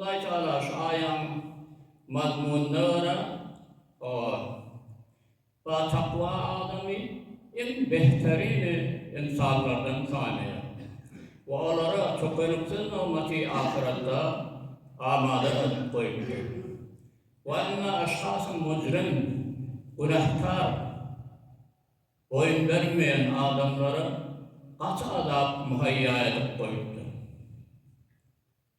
Hudaý Tagala şu aýaň mazmunyna görä, batakwa adamy iň behterini ynsanlardan sanaýar we olara tökeniksiz nygmaty ahyratda amada edip goýupdyr. Wa ynna eşhasy mujrim, günäkar, boýun bermeýän adamlara gaty azap muhaýýa edip goýupdyr.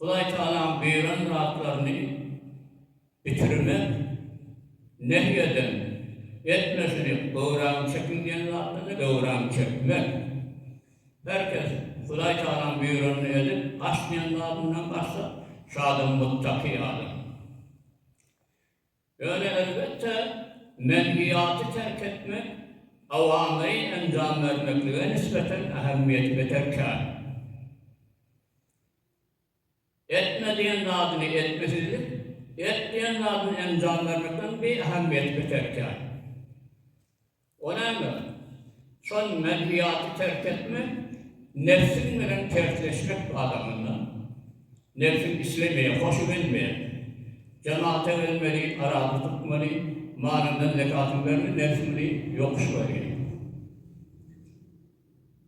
Hudaýtagalam beren zatlaryny bitirmek nehy eden, etme şuny, göwräňi çekiň diýen zatlaryny göwräňi çekmek. Her kes Hudaýtagalam buýranny edip, gaç diýen zadyndan gaçsa, şo adam muttaki adam. Ýöne elbetde, menhiýaty terk etmek awamly enjam bermeklige nisbeten ähemmiýeti beter kän. Etme diýen zadyny etmesizlik, et diýen zadyny enjam bermekden bi ähemmiýeti beter kän. O näme? Şol menfiýaty terk etmek, nebsiň bilen tersleşmek adamynda. Nebsiň islemeýär, hoşy gelmeýär. Jemata gelmeli, arada tutmaly, malyndan zekatyny bermeli, nebs muny ýokuş görýär.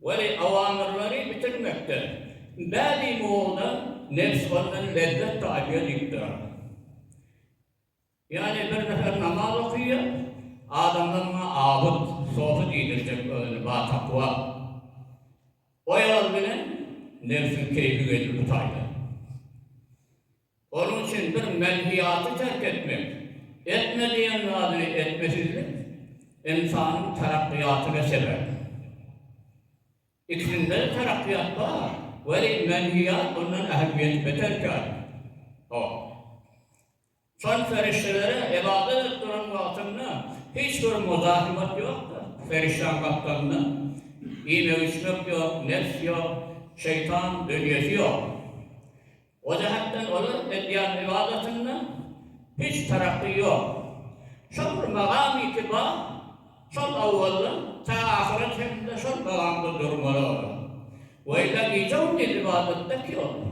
Weli, awamyrlary bitirmekde, bädi mowzuda nebs ondan lezzet tapýar diýip durar. Ýagny bir nefer namaz okaýar, adamlar muňa abyt, sofy diýdirjek, özüni batakwa, oýalar bilen nebsiň keýpi geýdi bu taýdan. Onuň üçin bir menhiýaty terk etmek, etme diýen zadyny etmesizlik ynsanyň tarakgyýatyna sebäp. Ikisinde-de tarakgyýat bar, welin menhiýat ondan ähmiýeti beter kän. Hop. Soň perişdelere ybadat edip duran wagtynda hiç bir muzahymat ýokdur. Perişdäň gapdalynda iýmek-içmek ýok, nebs ýok, şeýtan dünýesi ýok. O jähetden olar edýän ybadatynda hiç tarapy ýok. Şol bir magamy kibar, şol awwaldan ta ahyra çenli şol magamda durmaly olar. Weýla gije-gündiz ybadatda ki olar.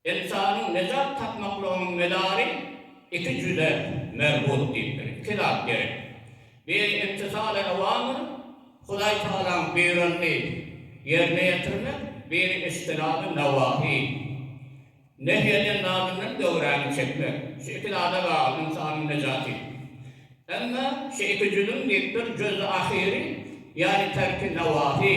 Ynsanyň nejat tapmaklygynyň medary iki jüze merbut diýipdir, iki zat gerek. Biri imtisal-i awamyr, Hudaý Tagalaň buýranny ýerine ýetirmek, biri iştinab-y newahi, nehy eden zadyndan göwräňi çekmek. Şu iki zada bagly ynsanyň nejaty. Emma şu iki jüzüň diýipdir, juz-y ahyry, ýagny terk-i newahi.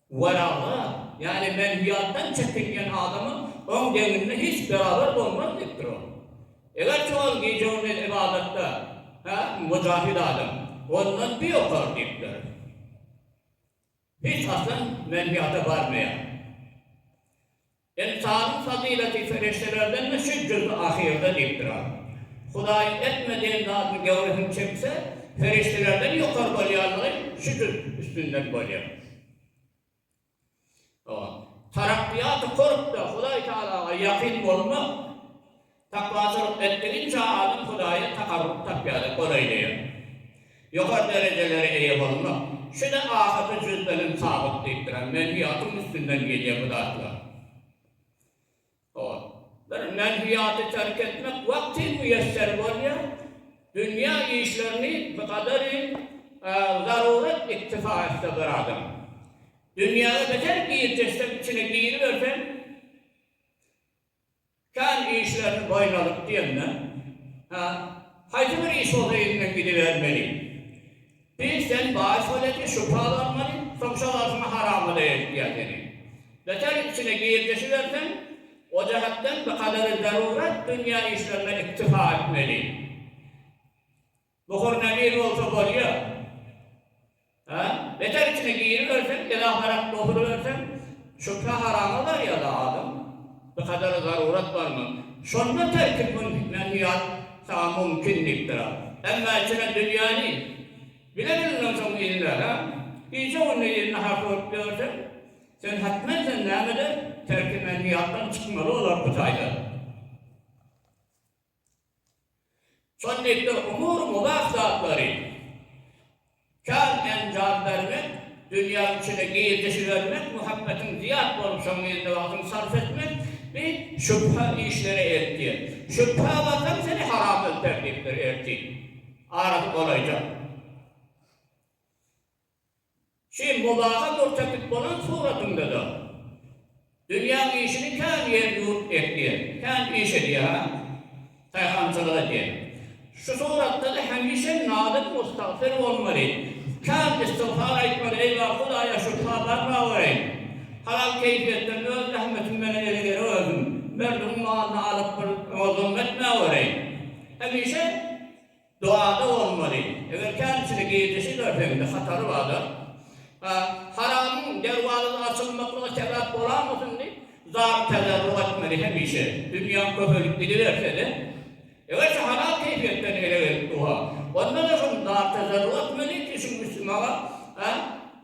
Waraga, ýaly menhüýatdan çekinýän adamyň oň deňinde hiç beraber bolmaz diýipdir ol. Egerçe ol gije-gündiz ybadatda, hä, mujahid adam, ondan bir ýokary diýipdir. Hiç haçan menhüýata barmaýar. Ynsanyň fazylaty serişdelerden üçin jüzi ahyrda diýip durar. Hudaý etme diýen zadyny göwresini çekse, serişdelerden ýokary bolýanlygy şu jüz üstünden bolýar. Tarakkýaty-kurbda Hudaý Tagalaga ýakyn bolmak, Takwaçylyk etdigiňçe adam Hudaýa takarruk tapýar-da, golaýlaýar. Ýokary derejelere eýe bolmak, şu-da ahyrky jüzdeniň sabyk diýipdir, hem menhiýatyň üstünden gelýär bu zatlar. Hor. Bir menhiýaty terk etmek wagty miýesser bolýar, dünýä işlerini bir gadary zarurat iktifa etse bir adam. Dünýäge beter girseň-de içine giriberseň, Kän işlerini boýun alyp diýenden, Hä, haýsy bir iş bolsa elinden gidibermeli. Biz sen baý soleti şübha barmaly, soň şol arsyňy haramada eltýär seni. Beter içine girdeşiberseň, o jähetden bikadary zarurat dünýä işlerine iktifa etmeli. Muhur näbir bolsa bolýa. Hä? Beter içine giriberseň, elaharak bosulyberseň, şübhe harama barýa-da adam. Bir kadar zarurat barmy? Şonda terki mümkin, menhiyat saňa mümkin diýipdir a. Emma içine dünýäni bile bilmän soň ille, hä? Gije-gündiz il nahar sorup ýörseň, sen hatmen sen näme-de terki menhiyatdan çykmaly bolar bu taýdan. Şonlike umury mubah zatlary kän enjam bermek, dünýäň içine girdijibermek, muhabbetiň zyýat bolup şoň ýerine wagtyňy sarp etmek, bi şübhe işlere eltýär. Şübhä barsaň seni haram öldär diýipdir ertir. Arasy golaýjak. Şu ýyl Mobaha görkezdik bolan suratynda-da, Dünýäň işini kän ýer-ýurt etýär, kän iş edýär-ä, taýhançylyk edýär. Şu suratda-da hemişe nadyr, mustagfir bolmaly, kän istigfar aýtmaly, Eý, bar Hudaýa şypa bar mawereý! Halal keýpiýetden öz zähmetim bilen ele gerip öldüm. Merdimiň malyny alyp bir oňa zulm etmäwereý! Hemişe. Doada bolmaly. Eger känisini girdeşi görseň-de hatary bar-da. A, haramyň derwazasy açylmaklyga sebäp bolamasyn diýip, zar tezerruk etmeli hemişe. Dünýäň köpelip gidiberse-de, egerçe halal keýfiýetden ele gelip dursa, onda-da şony zar tezerruk etmeli ki, şu üsti maňa, a,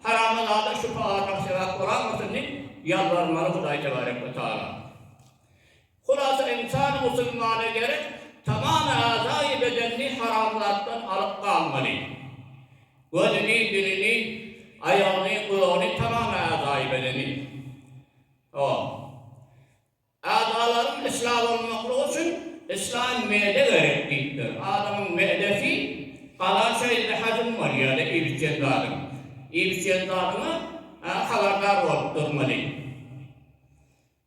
harama zada şübhe artmak sebäp bolamasyn diýip, ýalbarmaly Hudaý tebarek we taala. Hulasa ynsan musulmana gerek tamam azaýy bedenini haram zatdan alyp galmaly. Gözüni, dilini, aýagyny, gulagyny tamam azaýy bedeni. O. Azalaryň islah bolmaklygy üçin islan mede gerek diýipdir. Adamyň medesi galan şeýle hajym bolýar da iýibicen zadyň. Iýibicen zadyňa habardar bolup durmaly.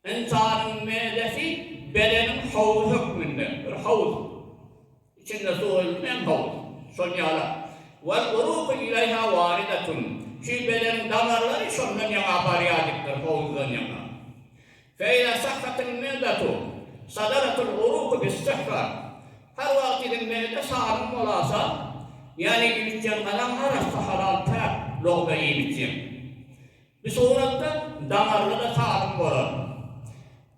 Ynsanyň mädesi bedeniň howzy hökmünde, bir howuz, içinde suw öldürýän howuz, şol ýala, Wal uruku ileýha waridatun, şu bedeniň damarlary şondan ýaňa barýajykdyr, howuzdan ýaňa. Fe iza sahhatil me'datu, sadaratul uruku bis sihha, her wagt siziň mäde saglyň bolasa, ýany iýip-içýän gazan arassa, halal, päk, logza iýip-içýän. Bu suratda damarly-da sazyň bolar.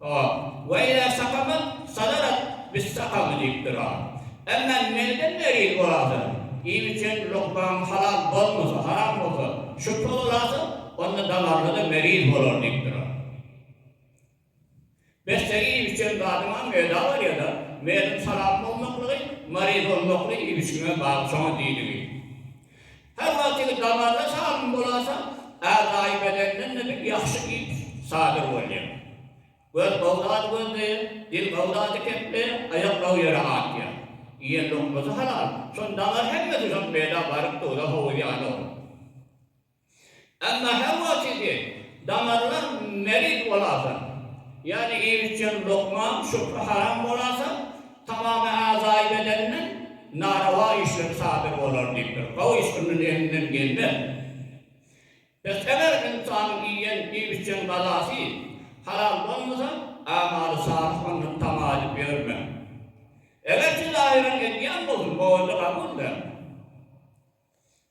O, Weýle sakama sazarat biz sakamy diýip dur-a. Emma menden meriz bolarsyň. Iým içen lukmaň halal bolmasa, haram bolsa, şübhe bolarsyň, onda damarly-da meriz bolar diýip dur-a. Bes-de iýip-içen zadyňam meda bolýa-da, meýliň salam bolmaklygy, maryz bolmakly iýip-içiňe bagly şoňa diýdigi. Her wagtyky damarda salym bolasa, äzaýy bedenden-de bir ýagşy iýip sadyr bolýar. Göz gowy zady gözleýär, dil gowy zady kepleýär, aýak gowy ýere atýar. Iýen lukmasy halal, şonda daňar hemmesi şon meda baryp duza howuz ýanawly. Emma häwagtide damarlar merid bolasoň, ýagny iýmitjeň lukman, şupra haram bolasoň, tamamy azaýy bedenden narawa işler sadyr bolar diýipdir. Gowy iş ondan elinden gelmez. Pes eger ynsanyň iýen iýmitjeň gazasy halal bolmasa, amaly salyh ondan tama edip ýörme. Egerçe zahyran edýän bolsun, o wende gabul däl.